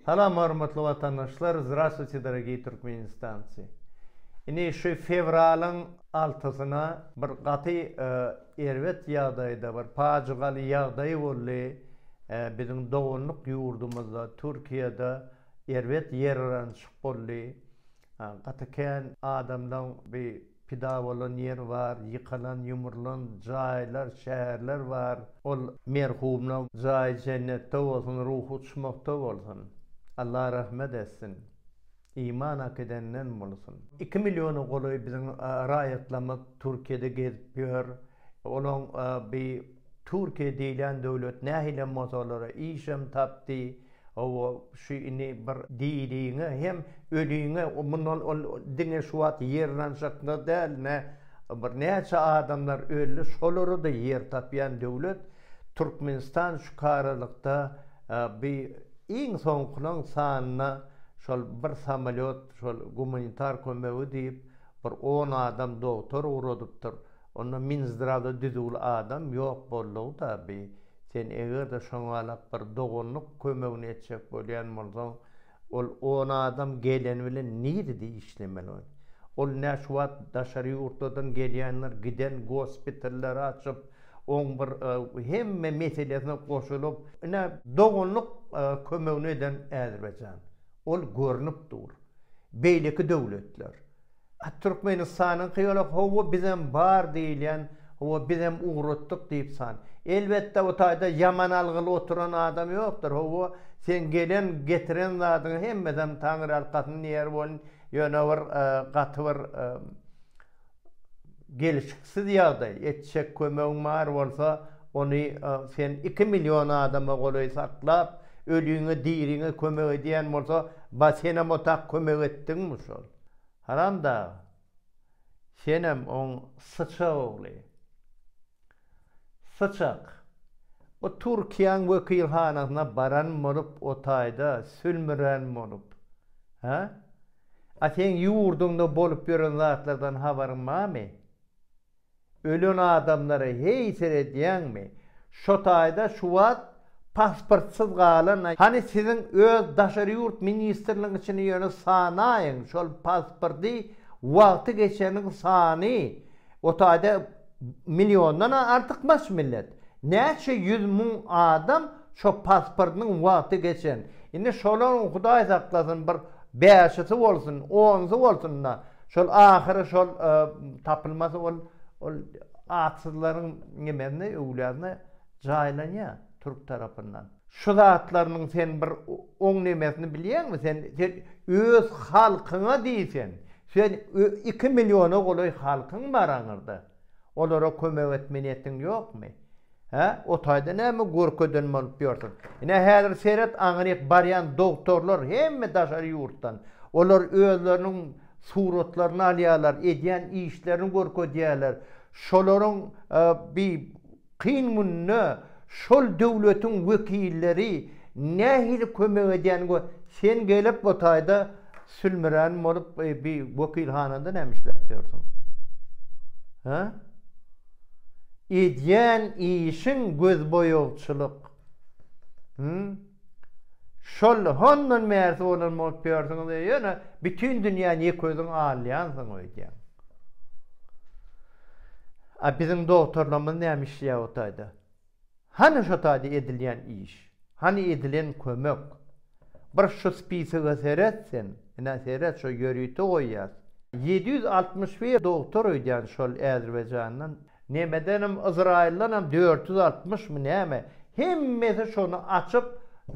Salam hormatly watandaşlar Zdrastwuyte dorogiý Türkmenistancy Ini şu fewralyň altysyna bir gaty erbet ýagdaýda bir pajygaly ýagdaý boldy biziň doganlyk ýurdumyzda Türkiýede erbet ýerranşyk boldy Gaty kän adamlaň bi pida bolan ýeri bar, ýykylan, ýumrulan jaýlar, şäherler bar. Ol merhumlaň jaýy jennetde bolsun, ruhy uçmakda bolsun. Allah rahmet etsin. Iman akidenden bolsun. Iki milliona golaý biziň raýatlarymyz Türkiýede gezip ýör. Olaň bi Türkiýe diýlen döwlet nähilem bolsa olara işem tapdy, owo şu indi bir diriňe hem öliňe mundan ol diňe şu wagt ýerranjakda däl nä bir näçe adamlar öldi şolara-da ýer tapýan döwlet Türkmenistan şukaralykda bi iň soňkylaň sanyna şol bir samolýot şol gumanitar kömegi diýip bir on adam dogtor ugradypdyr Onda Minzdrada düzüwli adam ýok boldugy taby. Sen eger-de şoňalak bir doganlyk kömegini etjek bolýan bolsaň, ol on adam geleni bilen nirede işlemeli ol? Ol nä şu wagt daşary ýurtlardan gelýänler giden gospitallary açyp, oň bir hemme meselesine goşulyp, ine doganlyk kömegini eden Äzerbaýjan. Ol görnüp dur. Beýleki döwletler. A Türkmenistanyňky ýola hawa bizem bar diýilýän hawa bizem ugratdyk diýip san. Elbetde o taýda ýaman algyly oturan adam ýokdur hawa seň gelen getiren zadyňa hemmesem Taňry arkasyn diýer bolun ýöne bir gaty bir gelişiksiz ýagdaý etjek kömegiň bar bolsa ony sen iki million adama golaý saklap öliňe diriňe kömek edýän bolsa ba senem o tak kömek etdiňmi şol. Haramdag, senem oň syçag ogly. Syçak, o Türkiýäň wekilhanasyna baran bolup o taýda sülmüren bolup, hä? A seň ýurduňda bolup ýören zatlardan habaryň barmy? Ölen adamlara heý seredýäňmi? Şo taýda şu wagt pasportsyz galan hany siziň öz daşary ýurt ministrligiň içini ýöne sanaýyň şol pasporty wagty geçeniň sany o taýda milliondan artykmaç millet näçe ýüz müň adam şo pasportynyň wagty geçen indi şolaryň hudaý saklasyn bir bäşisi bolsun onsy bolsunda Şol ahyry şol tapylmasy ol ol atsyzlaryň nimesine öwladyna jaýlanýa türk tarapyndan. Şu zatlarynyň sen bir oň nimesini bilýäňmi sen sen öz halkyňa diýsen sen iki milliona golaý halkyň bar aňyrda olara kömek etme niýetiň ýokmy Hä, o taýda näme görkezen bolup ýörsiň? Ine, häzir seret, aňryk barýan dogtorlar hemme daşary ýurtdan. Olar özleriniň suratlaryny alýarlar, edýän işlerini görkezýärler. Şolaryň bi kyn günde şol döwletiň wekilleri nähili kömek edýänini gör. Sen gelip bu taýda Sülmüren bolup bi wekilhanada näme işläp ýörsüň? Hä? Edýän işiň gözboýagçylyk. Hümm. Şol hondan bärsi bolan bolup ýörsüň we ýöne bütin dünýäni ýek özüň alýansyň öýdýäň. A biziň dogtorlarymyz näme işleýär o taýda? Hany şo taýda edilýän iş? Hany edilen kömek? Bir şu spisige seret sen, ine, seret, şo ýörite goýýas. Ýedi ýüz altmyş bir dogtor öýdýän şol Äzerbaýjandan. Nemedenem, Yzraýyldanam dört ýüz altmyşmy näme, hemmesi şony açyp,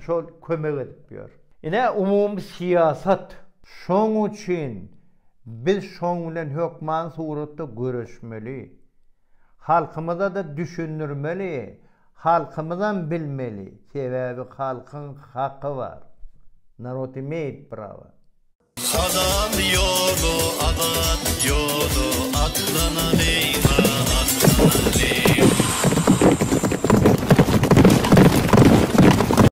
şol kömek edip ýör. Ine, umumy syýasat. Şoň üçin biz şoň bilen hökman suratda göreşmeli. Halkymyzada düşündirmeli halkymyzam bilmeli sebäbi halkyň haky bar narod imeýt prawa. Azat ýoly azat ýoly atlanalýa atlanalýa.